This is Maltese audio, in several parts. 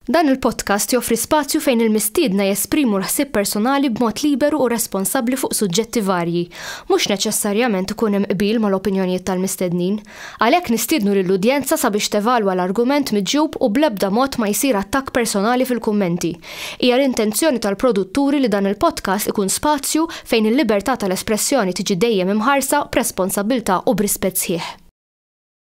Dan il-podcast joffri spazju fejn il-mistiedna jesprimu l-ħsieb personali b'mod liberu u responsabbli fuq suġġetti varji. Mhux neċessarjament ikun hemm qbil mal-opinjonijiet tal-mistednin. Għalhekk nistiednu lill-udjenza sabiex tevalwa l-argument miġjub u bl-ebda mod ma jsir attakk personali fil-kummenti. Hija l-intenzjoni tal-produtturi li dan il-podcast ikun spazju fejn il-libertà tal-espressjoni tiġi dejjem imħarsa b'responsabbiltà u b'rispett sħiħ.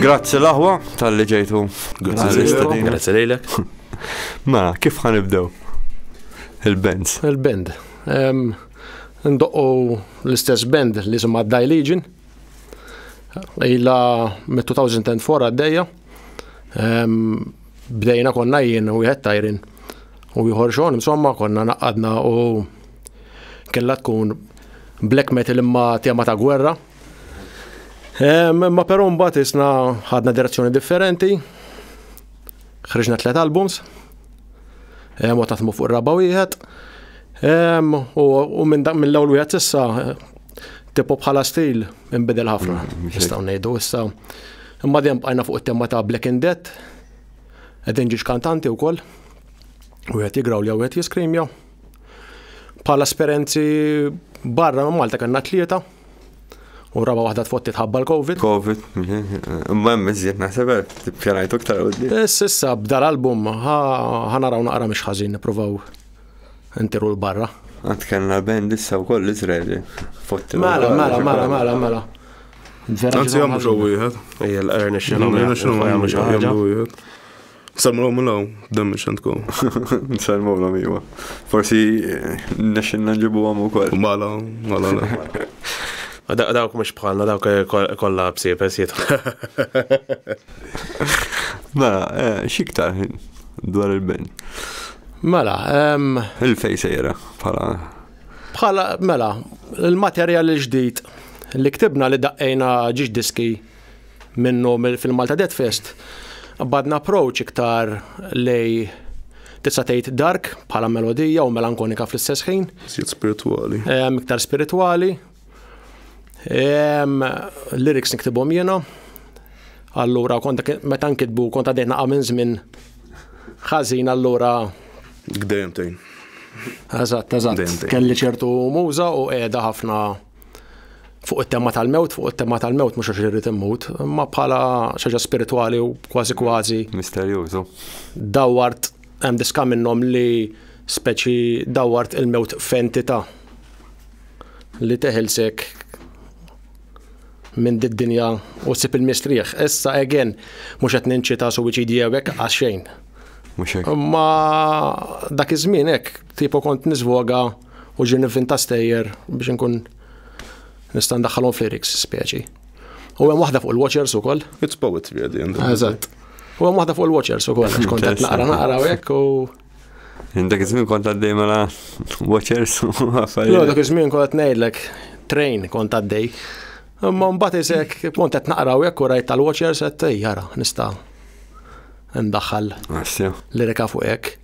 Grazzi l-aħwa tal-li ġejtu. Grazzi lejlek. Mela, kif ħanibdew? Il-band. Il-band. Ndoqqu l-istess band li jisimha Dai Legion. Ila mit-2004 għaddejja. Bdejna konna jien u jħed tajrin u jħor xon, insomma konna naqqadna u Kellha tkun black metal imma tema ta' gwerra. Ma però mbagħad isna ħadna direzzjoni differenti. Ħriġna tliet albums. Hemm u taħdmu fuq raba wieħed. U minn mill-ewwel wieħed issa tipo bħala stil imbidel ħafna. Mm, Nistgħu ngħidu issa. Imma dejjem bqajna fuq it-tema ta' Black in Death. Qed inġiex kantanti wkoll. Wieħed jigraw li wieħed jiskrimja. Bħala esperenzi barra minn Malta kellna tlieta u raba waħda tfotti tħabba l-Covid. Covid, imma hemm iżjed naħseb tippjanajtu iktar qudiem. Eh, Sissa bda l-album ħa naraw naqra mhix ħażin nippruvaw intiru l-barra. Għad kellna band issa wkoll Iżraeli. Fotti. Mela, mela, mela, mela, mela. Anzi, għamlu xo wieħed. Ejja, l-għarni xinu. L-għarni xinu għamlu xo wieħed. Salmu l law, dammi xantko. Salmu l iwa. Forsi eh, nexin nġibu għam u koll. Mala, mala, la. Dawk mux bħalna, dawk eh, kolla bsibes jitħu. Mela, eh, xiktar dwar il-ben. Mela, il-fej sejra bħala. Bħala, mela, il-materjal il-ġdijt li ktibna li daqqejna ġiġ diski minnu fil-Malta Dead Fest, badna approach iktar lej tista' tgħid dark bħala melodija u melankonika fl-istess ħin. Siet spiritwali. Iktar spiritwali. Lyrics niktibhom jiena. Allura kont meta nkitbu kont għaddejna minn żmien ħażin allura. Gdejjem tgħin. Eżatt, eżatt. Kelli ċertu muża u qiegħda ħafna fuq it-tema tal-mewt, fuq it-tema tal-mewt mhux għax irrid immut, imma bħala xaġa spirituali u kważi kważi. Misterjużu. Dawart hemm diska minnhom li speċi dawart il-mewt f'entità li teħilsek minn did-dinja u sib il-mistrieħ. Issa again mhux qed ninċita suwiċidji hekk għax xejn. Mhux hekk. Ma dak iż-żmien hekk Tipo kont nizvoga u ġi nivvinta stejjer biex nkun nista' ndaħħalhom f'lyrics speċi. U hemm waħda fuq il-Watchers ukoll. It's poetry at the end. Eżatt. U hemm waħda fuq il-Watchers ukoll għax kont qed naqra naqra hekk u Dak iż-żmien kont għaddej mela Watchers u affarijiet. Jo, dak iż-żmien kont qed ngħidlek train kont għaddej. Imma mbagħad isek kont qed naqra hekk u rajt tal-Watchers qed jara nista' ndaħħal lirika fuq hekk.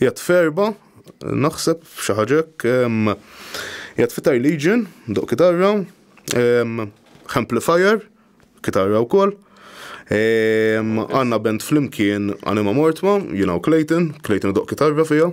Jgħat ferba, naħseb xi ħaġa hekk, jgħat fitar legion, doq kitarra, amplifier, kitarra wkoll. Għanna band flimkien Anima Mortma, jiena u Clayton, Clayton doq kitarra fija.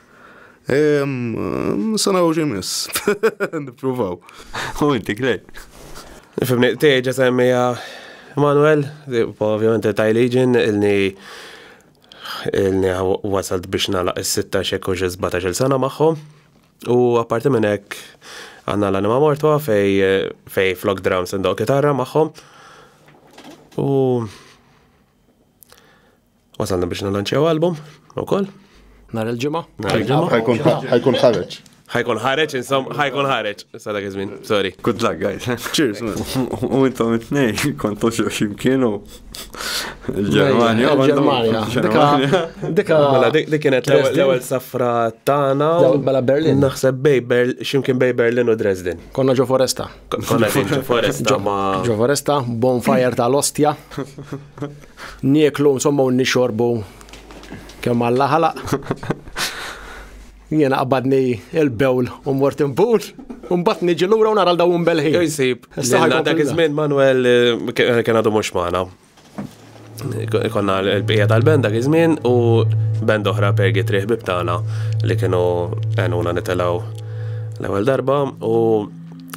Se naraw x'imiss. Nippruvaw. U inti klej. Fimni, tieġa semmija Manuel, ovvjament taj liġin ilni ilni wasalt biex nalaq is-sitta xek u ġizbata xil sena magħhom. U apparti minn hekk għandna l-anima mortwa fej fej flok dram sendoq kitarra magħhom. U Wasalna biex nalanċew album, u koll. Nar il-ġimgħa? Nar il-ġimgħa. Ħajkun ħareġ. Ħajkun ħareġ, insom, ħajkun ħareġ. Sada għizmin, sorry. Good luck, guys. Cheers, man. U intom it-nej, kontu ximkien kienu. Il-Germania, Germania. Dika. Mela, dik kienet l-ewel safra tana. Bala Berlin. Naħseb bej Berlin, ximkien bej Berlin u Dresden. Konna ġo foresta. Konna ġo foresta. Ġo foresta, bonfire tal-ostja. Nieklu insomma u nixorbu kemm Alla ħalaq. Jiena qabadni il-bewl u mort imbul, u mbagħad niġi lura u nara l-daw imbelħin. Jew jsib, dak iż-żmien Manuel eh, eh, kien għadu mhux magħna. Konna l-bqija tal-band dak iż-żmien u band oħra pergi triħ bibtana li kienu għenuna nitelaw l-ewwel darba u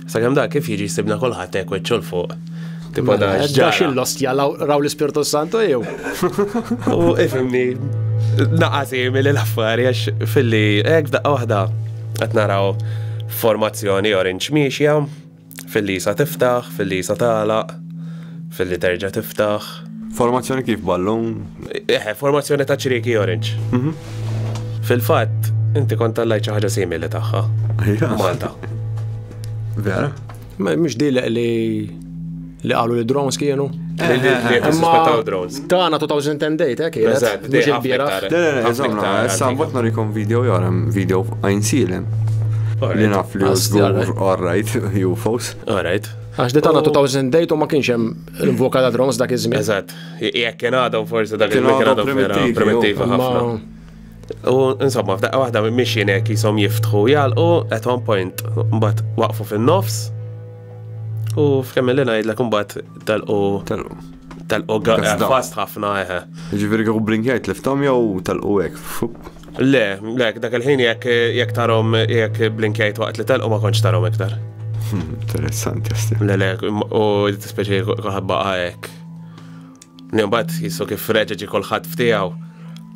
Sakemm dak kif jiġi jsibna kulħadd hekk wiċċu l fuq. Tipo mela, da x'ġara. Xi lost jalaw raw l-Ispirtu Santu jew. U ifimni naqasi mill l-affari għax filli hekk f'daqqa waħda qed naraw formazzjoni orange miexja filli sa tiftaħ, filli sa tagħlaq, filli terġa' tiftaħ. Formazzjoni kif ballun? Eħe, eh, formazzjoni ta' ċrieki orange. Mhm. Fil-fatt, inti kont tallajt xi ħaġa simili tagħha. Malta. Vera? Ma mhux dilek li li qalu li drones kienu. Eh, eh, eh, Imma drones. Tana 2010 date, eh, kienet. Eżatt, mhux il-bieraħ. Le, le, le, eżatt, issa mbagħad norikom video jarem, video għajn silem. Li naf li żgur, all right, UFOs. All right. Għax di tana 2008 u ma kienx hemm L-invoka ta' drums dak iż-żmien. Eżatt, jekk kien għadhom forsi dak iż-żmien kien għadhom primittiva ħafna. U insomma, f'daqqa waħda mixin hekk jisom jiftħu jgħalqu at one point mbagħad waqfu fin-nofs. U f'kemm li ngħidlek imbagħad telqu telqu fast ħafna eħe. Ġifieri kieku blinkjajt liftom jew telqu hekk. Le, le, dak il-ħin jekk jekk tarom jekk blinkjajt waqt li telqu ma kontx tarom iktar. Hmm, interessanti sti. Le, le, u speċi kulħadd baqa' hekk. Nimbat jissu kif reġeġi kulħadd ftijaw.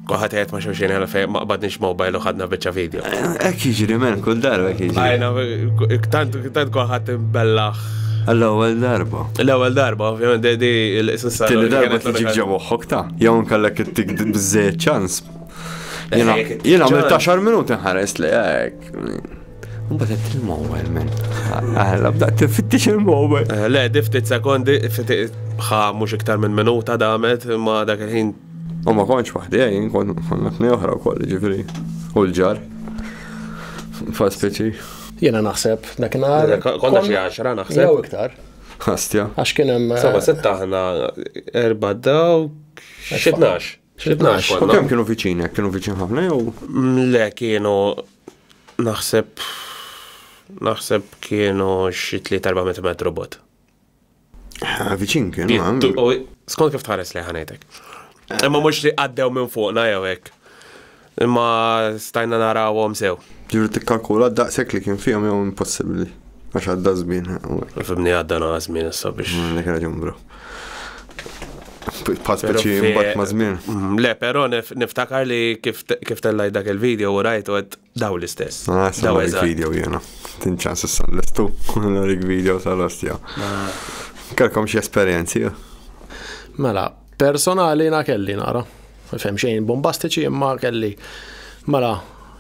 Kulħadd qed ma xulxin għal fejn ma qbadniex mobile u ħadna biċċa video. Hekk jiġri men kull darba hekk jiġri. Għajna, tant tant kulħadd imbellaħ. L-ewwel darba. L-ewwel darba, ovvjament, di l-istessa. Tilli darba tiġi ġewwa ta' jew nkellek it-tik biżejjed ċans Jien għamil taxar minuti nħares li għek. Mbagħad qed il-mowel minn. Għala bda tiffittix il-mowel. Eh, le, diftit sekondi, ħa mhux iktar minn minuta damet ma dak il-ħin. U ma konċ waħdi, eh, jien konna tnej oħra wkoll ġifri. U l-ġar. Fa speċi. Jiena naħseb dak nhar. Konna xi għaxra naħseb. Jew iktar. Għastja. Għax kien hemm. Saba eh, sitta aħna erba' daw xi tnax. Xitnax. U kemm kienu viċinek? Kienu viċin ħafna jew? Le kienu naħseb naħseb kienu xi 3-4 metru bot. Viċin kienu. Skont kif tħares li ħanejtek. Imma mhux li għaddew minn fuqna jew hekk. Imma stajna narawhom sew. Ġifieri tikkalkula d-daqshekk li kien fihom jew impossibbli għax għadda żmien. Fibni għadda naqa' żmien issa biex. Mm, dik raġun bro. Pass biċi mbagħad ma' żmien. Mm, le, però niftakar li kif tellaj dak il-video u rajt għed daw l-istess. Ah, daw il-video jena. Tinċans issa l-istu, l-rik video tal-ostja. Ah. Kalkom xie esperienzi, Mela, Personali na kelli nara. Fem xejn bombastiċi imma kelli. Mela,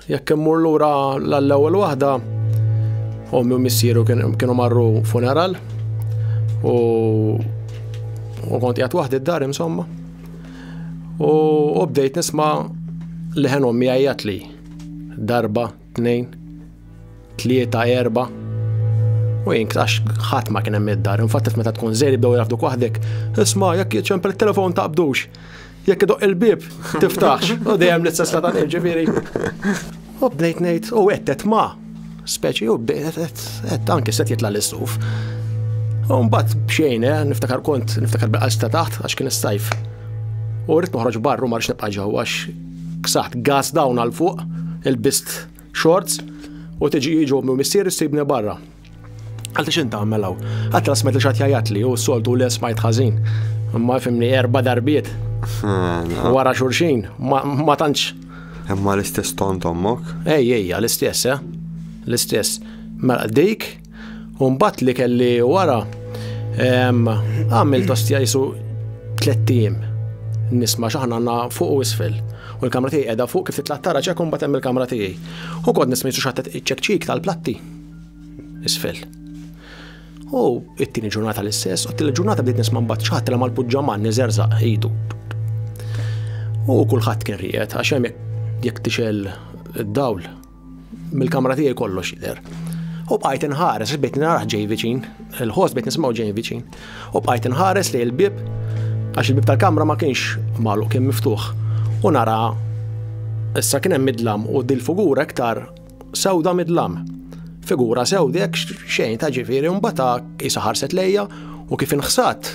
jekk immur lura l-ewwel waħda, ommi u missieru kienu marru funeral u u kont jgħat waħdi d-dar insomma. U bdejt nisma li ħen ommi għajjat li darba tnejn, tlieta, erba' u jink għax ħadd ma kien hemm id-dar. Infatti meta tkun żejri bdew jafduk waħdek, isma' jekk jiċempel il-telefon taqbdux. Jekk idoq il-bib, tiftax. U dejjem l-istess ta' dan ġifieri. U bdejt ngħid, u qed ma' speċi u bdejt anke set jitla' l-istuf. U mbagħad bxejn, eh, niftakar kont, niftakar bil-qalb ta' taħt għax kien is-sajf. U rrid noħroġ barru ma rridx nibqa' ġewwa għax Ksaħt gas down għal fuq, ilbist shorts u tiġi jiġu minn missieri ssibni barra. Għalti xint tagħmel hawn? Għad trasmet li xatt jajatli u soltu li smajt ħażin. Imma fimni erba darbiet. Wara xurxin, ma tantx. Imma l-istess ton tommok? Ej, ejja, l-istess, eh? L-istess. Mela dik Un bat li kelli wara, għamil tostja jisu tlettijim. Nisma xaħna għanna fuq u isfel. U l-kamra tiegħi qiegħda fuq kif titla' tara ċek imbagħad hemm il-kamra tiegħi. U kont nisma' jisu xattet iċ-ċekċik tal-platti. Isfel. U it-tieni ġurnata l-istess, u t-tieni ġurnata bdiet nisma' mbagħad xaħat l mal-puġġaman niżerżaq idu. U kulħadd kien rijet għax hemm jekk tixel id-dawl Mill-kamra tiegħi kollox jidher. U bqajt inħares, bejt naraħ ġej viċin, il-ħoss bejt nismaw ġej viċin. U bqajt inħares li l-bib, għax il-bib tal-kamra ma kienx malu, kien miftuħ. U nara, issa kien hemm midlam u dil-figura iktar sewda midlam. Figura sewdek xejn ta' ġifieri mbata isa ħarset lejja u kif inħsat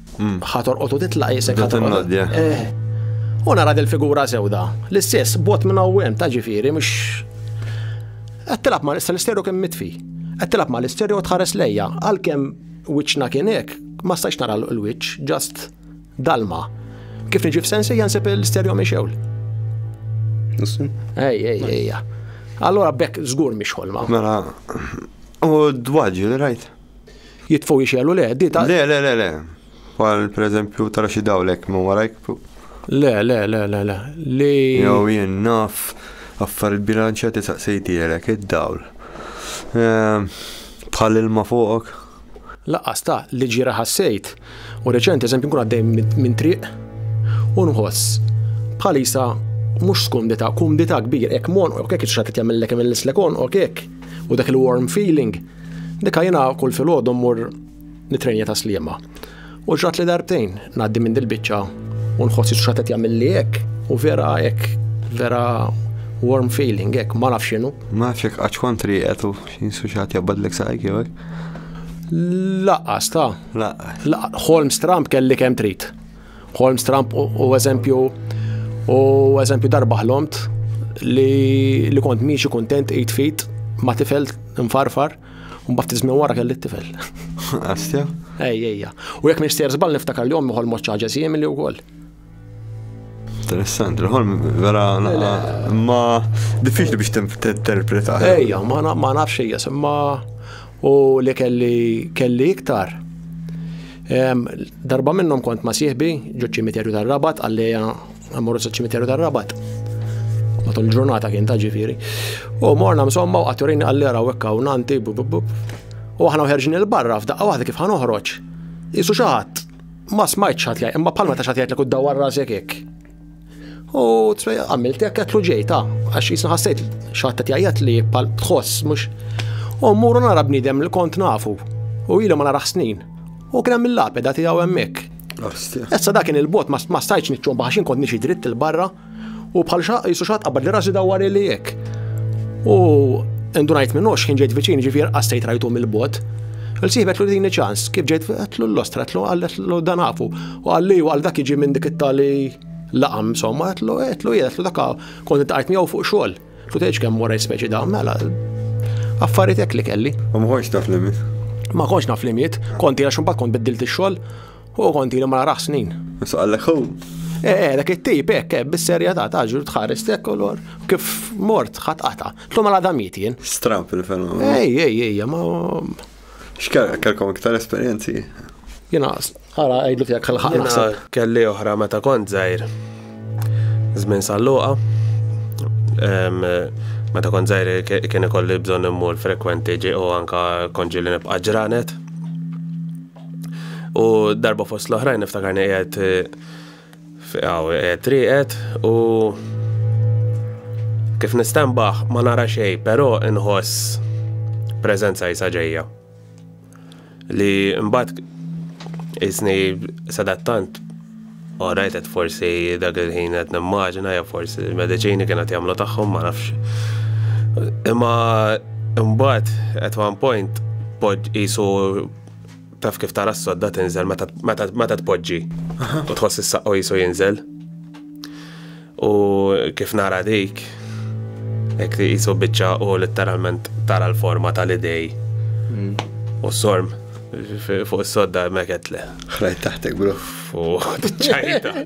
Mm. Ħa torqod u titlaq jisek ħa torqod. Eh. U nara del figura sewda. L-istess, bot minn għawem ta' ġifiri, mux. Għattilab ma' l-isteru kem mitfi. Għattilab ma' l-isteru u tħares lejja. Għal-kem wiċna kienek, ma' stax nara l-wiċ, just dalma. Kif nġif sensi jansib l-isteru miexewl. Ej, ej, ej. Allora bekk zgur miex ħolma. Mela, u d-dwaġi li rajt? Jitfgħu jixegħlu le, di ta' Le, le, le, le. Bħal pereżempju tara xi dawlek ma warajk. Le, le, le, le, le. Li. Jew jien naf affar il-bilanċa tisaqsejtielek id-dawl. Ehm, bħal ilma fuqok. Laqqas ta' li ġira ħassejt. U reċent eżempju nkun għaddej minn triq u nħoss bħalisa mhux skumdita, kumdita kbir, hekk mon, hekk iċċatet jagħmellek imillslek on, hekk u dak il-warm feeling Dika jiena kull filgħodu mmur nitrenja ta' sliema. U ġrat li darbtejn ngħaddi minn dil-biċċa u nħossi x'ħadd qed jagħmilli hekk u vera hekk vera warm feeling hekk ma nafx x'inhu. Ma nafx hekk qaċ kontri qed u jinsu xi ħadd jabadlek saqajk jew hekk. Laqqas ta'. Laqqas. Holmes Trump kelli kemm trid. Holmes Trump u eżempju u eżempju darba ħlomt li, li kont miexi kontent 8 feet ma tifel nfarfar un bat tizmin wara kelli t-tifel. Astja? Ej, ejja. U jek minn stjer zbal niftakar li ommi ħolmu ċaġa sijem li u koll. Interessanti, ħolm vera ma diffiċli biex t-interpreta. Ejja, ma nafx ejja, semma U li kelli kelli iktar. Darba minnhom kont ma' sieħbi ġo ċimiterju tar-Rabat għalleja għamorru sa ċimiterju tar-Rabat. Matul il-ġurnata kien ta' ġifieri. U morna msomma u għatturini għallera u ekka u nanti u aħna uħerġin il-barra f'daqqa waħda kif ħanoħroġ. Isu xaħat ma smajt xaħat li imma palma ta' xaħat li kud dawar rasek hekk. U għamilt hekk qed ġejta, għax jisna ħassejt xaħta tjajjat li pal tħoss mhux. U mmur nara bniedem li kont nafu u ilu ma narax snin. U kien hemm il-lapeda tiegħu hemmhekk. Issa dak kien il-bot ma stajtx niċċom baħxin kont nixi dritt il-barra u bħal jisu xaħat qabad li rasi dawar li hekk. U indunajt minn ox kien ġejt viċin ġifier qassejt rajtu mill-bot. Il-siħbet l-dini ċans, kif ġejt għatlu l-ostra, għatlu għallet l-danafu. U għalli u għal dak iġi minn dik it-tali laqam, insomma, għetlu, għetlu, għetlu, daka, kont it-għajt miegħu fuq xogħol. Kut eġ kemm wara speċi da, mela, affaritek li kelli. U ma konx taf limit? Ma konx naf limit, konti għax mbagħad kont biddilt ix-xogħol u konti li ma narax snin. Issa għallek hu. Eh, eh, dak it-tip, hekk, eh, bis-serja ta' taġu tħares tek lor. Kif mort ħat qata. Tlum għal damiet jien. Stramp il-fenomenu. Ej, ej, ej, ma. X'kellek kellkom iktar esperjenzi? Jiena ara għidlu tiegħek għal ħaq naħseb. Kelli oħra meta kont żgħir. Żmien salluqa. Meta kont żgħir kien ikolli bżonn immur frekwenti ġi u anka konġi li nibqa' ġranet. U darba fost l-oħrajn niftakarni qiegħed Hawn qiegħed rieqed u kif nistenbaħ ma nara xejn, però inħoss preżenza jisa ġejja. Li mbagħad isni sadattant u rajtet forsi dak il-ħin qed nimmaġina jew forsi l-mediċini kienet jagħmlu tagħhom ma nafx. Imma mbagħad at one point pod isu Taf kif tara s-sodda tinżel meta tpoġġi u tħoss is-saqqo jisu jinżel. U kif nara dik, hekk li jisu biċċa u letteralment tara l-forma tal-idej. Mm. U s-sorm fuq is-sodda meket le. Ħrajt taħtek, bro. Fuq ċajta.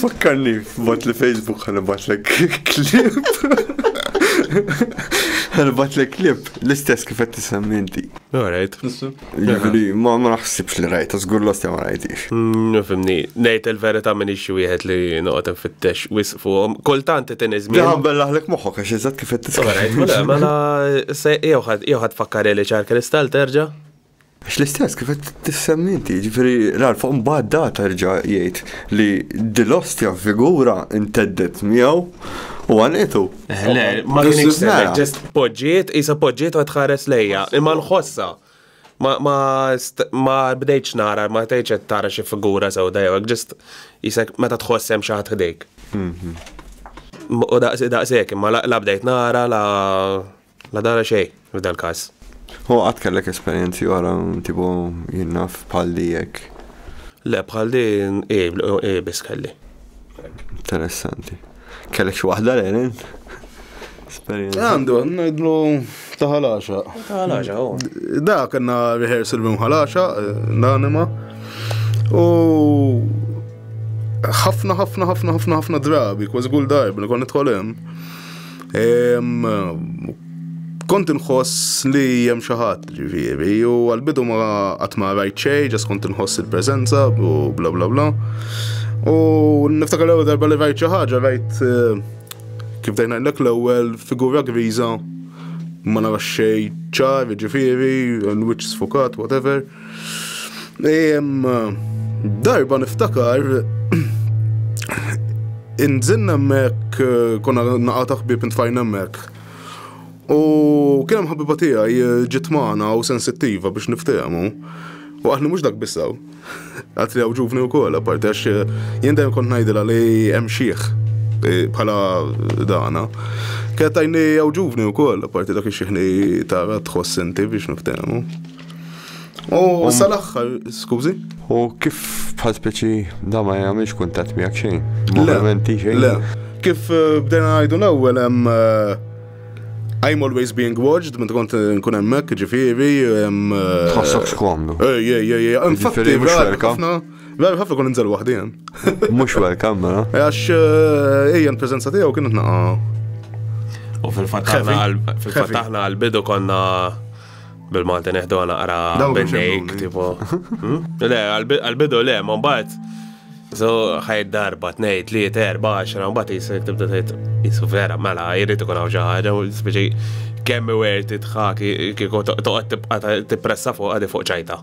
Fakkarni f'bot li Facebook ħanibatlek klib. Ħanibatlek klib l-istess kif qed tisemmi inti. Alright. Jiġri, ma ma naħsibx li rajta, żgur lost ma rajtix. Mm, Fimni, ngħid il-verità minn ixi wieħed li noqgħod infittex wisq fuqhom. Kultant qed inizmin. Daħan bellaħlek moħħok għax eżatt kif qed tisemmi. Alright, mela, mela, se jew ħadd jew ħadd fakkar li ċar kristal terġa'? Għax l-istess kif qed tissemmi inti, jiġifieri rar fuq mbagħad da terġa' jgħid li dil-ostja figura nteddet miegħu u għanitu. Eh, le, ma kienx semmet, ġest poġġiet, isa poġġiet u tħares lejja, imma nħossa. Ma bdejtx nara, ma tgħidx qed tara xi figura sewda jew ġest jisek meta tħoss hemm xi ħadd ħdejk. Mhm. U daqshekk imma la bdejt nara la La dara xejn, f'dal każ. Hu qatt kellek esperjenzi oħra tipo jien naf bħal di hekk? Le, bħal di hi, hi biss kelli. Interessanti. Kellek xi waħda l-għelin? Għandu, ngħidlu ta' ħalaxa. Ta' ħalaxa, oh. Da, kena rehearsal minn ħalaxa, l-anima. U ħafna, ħafna, ħafna, ħafna, ħafna drabi, kważi kull darba li konna tħolem. kont inħoss li jem xaħat ġifiri u għal-bidu ma għatma rajt xej, ġas kont inħoss il-prezenza u bla bla bla. U niftakar l-ewwel darba li rajt xi ħaġa rajt eh, kif dejna l l-ewwel figura griża ma narax xej ċar, ġifiri, l-wiċċ sfukat, whatever. Darba niftakar inżinna hemmhekk eh, konna naqa' ta' ħbieb intfajna hemmhekk. U kien hemm ħabiba tiegħi eh, ġiet magħna u sensittiva biex niftehmu. U għatni mhux dak bissaw. Għatri għaw ġuvni u kolla, parti għax eh, jien dejjem kont ngħidilha li hemm xieħ bħala dana. Kienet tajni għaw ġuvni u kolla, parti dak xieħni tara tħoss inti biex niftehmu. U um, sal-axħar, skużi? U kif bħal speċi da ma jgħamilx kuntat miegħek xejn? Movimenti xejn? Le, kif eh, bdejna għajdu l-ewwel hemm eh, I'm always being watched, minn kont eh, nkun hemmhekk, ġifieri. Tħossok xkomdu. Ej, ej, ej, infatti, ħafna. Vera ħafna kun nżel waħdi hemm. Mhux welcome, mela. Għax ejja l-preżenza tiegħu kienet naqa' U fil-fatt aħna għal-bidu konna Bil-Malti neħdu għana għara bennejk, tipo. Hmm? Le, għal-bidu le, ma bat. So, ħajt darba, tnej, tliet, erba, xra, bat jisek tibda tgħid jisu vera, mela, jirrit ikun hawn xi ħaġa, speċi kemm iwer titħak kieku toqgħod tibqa' tippressa fuq għadi fuq ċajta.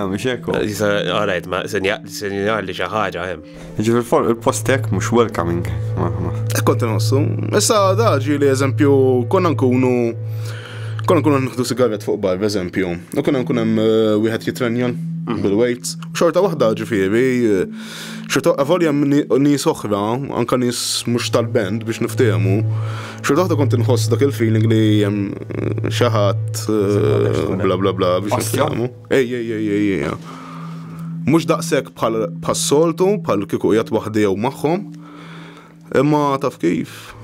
Mhux hekk. Jisa, all right, ma sinjali xi ħaġa hemm. Jiġifieri fuq il-post hekk mhux welcoming. Hekk kont inħossu. Issa da ġieli eżempju konna nkunu konna nkunu nħdu sigaret fuq bar, eżempju, u konna nkun hemm eh, wieħed jitrenjan mhm. bil-weights. Xorta waħda ġifieri, eh, xorta avolja nies oħra, anka nies mhux tal-band biex niftehmu, xorta waħda kont inħoss dak il-feeling li hemm eh, xi ħadd bla bla bla biex niftehmu. Ej, ej, ej, ej, ej. Mhux daqshekk bħal bħas-soltu, bħal kieku qiegħed waħdi jew magħhom. Imma taf kif?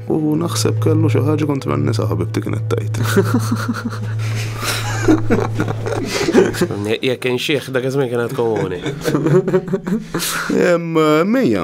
U naħseb kellu xi ħaġa kontra n-nisa ħabibti kienet tajt. Jekk inxieħ dak iż-żmien kienet komuni. Mija,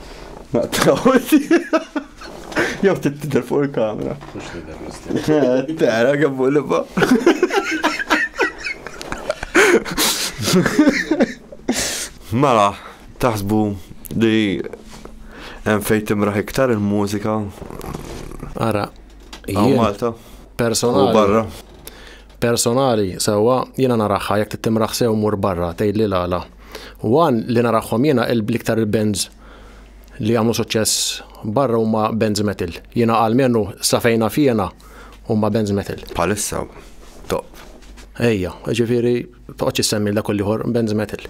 Naqtaw. Jew tittider fuq il-kamera. Mux tider l-istil. Eh, tara għabbu li ba. Mela, taħsbu li hemm fejn timraħ iktar il-mużika. Ara, Malta. Personali. U barra. Personali, sewwa, jiena naraħħa jekk tittimraħ sew mur barra tgħidli l-għala. U għan li naraħħom jiena l-iktar il-bands li għamlu suċċess barra huma bands metal. Jiena għal menu safejna fjena huma bands metal. Palissa, top. Ejja, ġifiri, toqgħodx issemmi l dak liħor bands metal.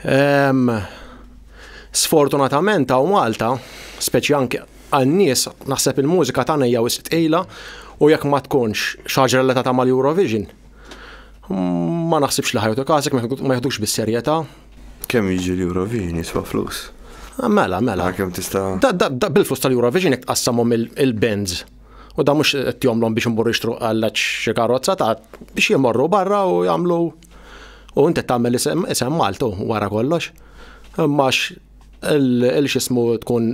Ehm, sfortunatament għaw Malta, speċi anke Għal nies, naħseb il-mużika tagħna hija wisq tqila u jekk ma tkunx xi ħaġa relatata mal-Eurovision, ma naħsibx li ħajtu każek ma jeħdux bis-serjetà. Kemm jiġi l-Eurovision jiswa flus? Ah, mela, mela. Kemm tista'. Da bil-flus tal-Eurovision jekk tqassamhom il-bands. U da mhux qed jomlhom biex imur jixtru għal xi karozza ta' biex jimorru barra u jagħmlu u inti tagħmel isem Maltu wara kollox. Imma il-xismu tkun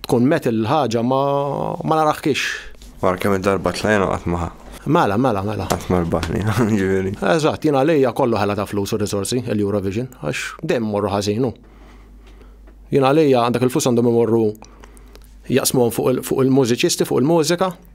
Tkun met il-ħaġa ma naraħkix. Wara kemm darba tlajna qatt ma Mela, mela, mela. Qatt ma rbaħni, ġifieri. Eżatt, jien għalija kollu ħela ta' flus u risorsi il-Eurovision, għax dejjem morru ħażinu. Jien għalija għandek il-flus għandhom imorru jaqsmuhom fuq il-mużiċisti, fuq il-mużika,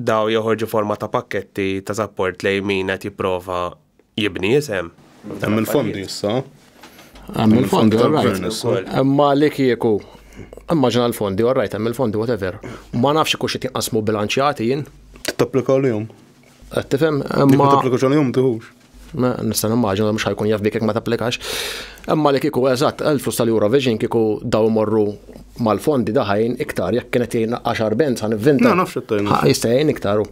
Dawn joħorġu forma ta' pakketti ta' sapport lejn min qed jipprova jibni isem. Hemm il-fondi issa. Hemm il-fondi, all right. Imma li kieku immaġina l-fondi, all right, hemm il-fondi whatever. Ma nafx ikux qed jinqasmu bilanċjati jien. Qed tapplika għalihom. Qed tifhem? Imma. Qed tapplika għalihom tieħux. Nista' nimmaġina mhux ħajkun jaf bik jekk ma tapplikax. Imma li kieku eżatt, il-flus tal-Eurovision kieku daw morru mal-fondi daħajn iktar jekk kienet jgħin 10 band sa nivvinta. No, nafx it-tajn. Jista' jgħin iktar u.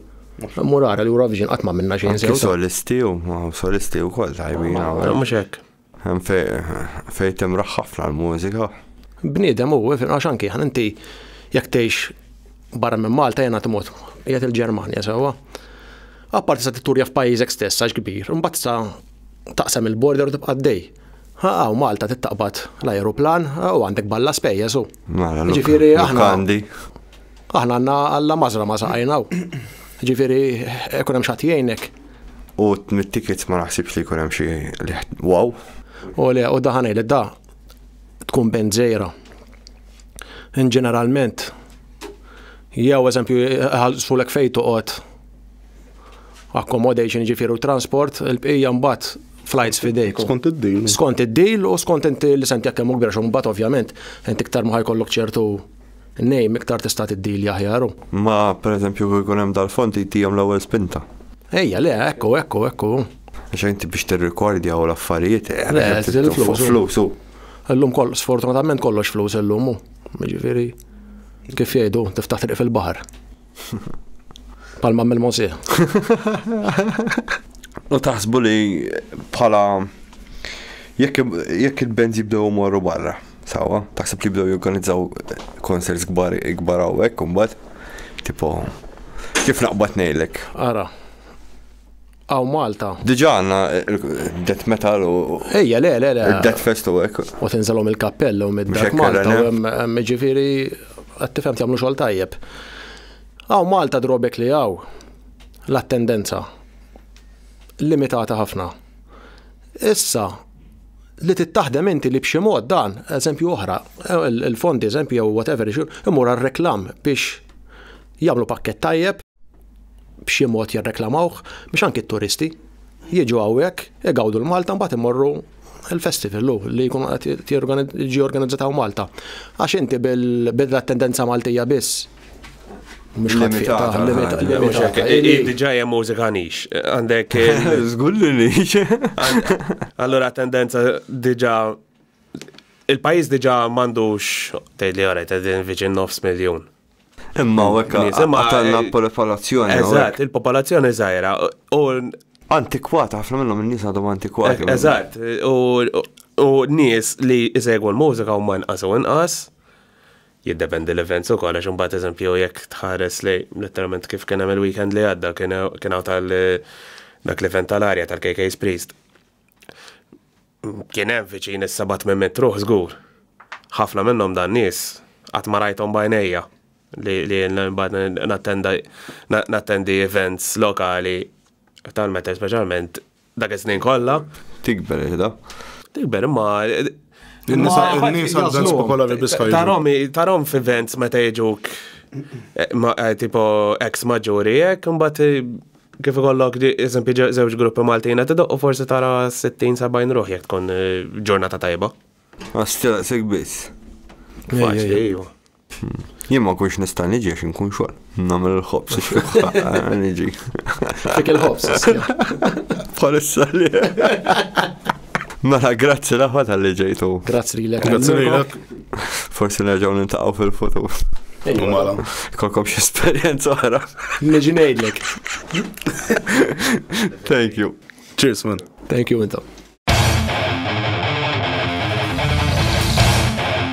Murara l-Eurovision qatt ma minna xejn sew. Solisti u solisti wkoll tajbin. Mhux hekk. Hemm fejn timraħ ħafna l-mużika. Bniedem hu, għax anki ħan inti jekk tgħix barra minn Malta jena tmut qiegħed il-Ġermanja sewwa. Apparti sa titturja f'pajjiżek stess għax kbir, imbagħad sa taqsam il-border u tibqa' dej. Ħa Malta tittaqbad l-ajruplan u għandek balla spejjeż u. Mela, Ġifieri aħna. Aħna għandna Alla mażra ma saqajna u. Ġifieri ikun hemm xatt jgħinek. U mit-tickets ma naħsibx li jkun hemm xi li wow. U le, u daħan li da tkun band żejra. In ġeneralment, jew eżempju ħalsulek fejn toqgħod accommodation ġifier u transport, il-bqija mbagħad flights fidejk. Skont id-deal. Skont id-deal u skont inti li senti jekk hemm kbir xum bat ovvjament, inti iktar ma ħajkollok ċertu Name iktar tista' tiddili aħjar u. Ma pereżempju kieku jkun hemm dal-fond jtihom l-ewwel spinta. Ejja, le, ekku, ekku, ekku. Għax inti biex tirrikordja u l-affarijiet. Eh, le, fuq flus u. Illum koll, sfortunatament kollox flus illum u. Ġifieri, kif jgħidu, tiftaħ triq fil-baħar. Palma mill mosieħ U taħsbu li bħala jekk il-band jibdew morru barra, sawa, taħseb li jibdew jorganizzaw konserts kbar ikbar hawnhekk imbagħad, tipo kif naqbad ngħidlek. Ara. Aw Malta. Diġa għanna death metal u. Ejja, le, le, le. Death fest u għek. U tinżalom il-kappell u mid-dark Malta. Ġifiri, għattifem jamlu xol tajjeb. Aw Malta drobek li għaw. L-attendenza. Limitata ħafna. Issa, li tittaħdem inti li b'xi mod dan, eżempju oħra, il-fondi, eżempju, jew whatever, imur għal reklam biex jagħmlu pakket tajjeb b'xi mod jirreklamawh biex anki t-turisti jiġu hawnhekk, igawdu l-Malta mbagħad imorru il-festival lu li jkun qed jiġi organizzat hawn Malta. Għax inti bil-attendenza Maltija biss Mux limitata. Diġa jem mużika nix. Għandek. Zgulli nix. Allora tendenza diġa il-pajis diġa mandux tgħid li għarajt għedin viċin nofs miljon. Imma u hekk qatalna l-popolazzjoni. Eżatt, il-popolazzjoni żgħira. Antikwata, ħafna minnhom in-nies għadhom antikwati. Eżatt, u nies li jsegwu l-mużika huma nqas u nqas jiddependi l-events u koll, għax mbagħad eżempju jekk tħares li letteralment kif kien hemm il-weekend li għadda kien hawn tal dak l-event tal-arja tal-KK's Priest. Kien hemm viċin is-seba' tmien mitt ruħ żgur. Ħafna minnhom dan nies qatt ma rajthom b'għajnejja li nattendi events lokali tal-metal speċjalment dak iż-żmien kollha. Tikber iħda. Tikber imma In-nies għal popolari biska. Tarom, tarom f'events meta jiġuk eh, eh, tipo ex maġuri jekk, imbagħad eh, kif ikollok eżempju żewġ gruppi Maltin qed idoqqu forsi tara 60-70 ruħ jekk tkun eh, ġurnata tajba. Għax ċeraqsek biss. Faċli, ejwa. Jien ma kunx nista' niġi għax inkun xogħol. Nagħmel il-ħobs niġi. Fik il-ħobs. Bħalissa li. Mela, grazzi l-aħwa tal-li ġejtu. Grazzi li l-ek. Grazzi li l-ek. Forsi nerġaw nintaqaw fil-futur. Mela. Kolkom xie esperienza oħra. Neġinejdlek. Thank you. Cheers, man. Thank you, intom.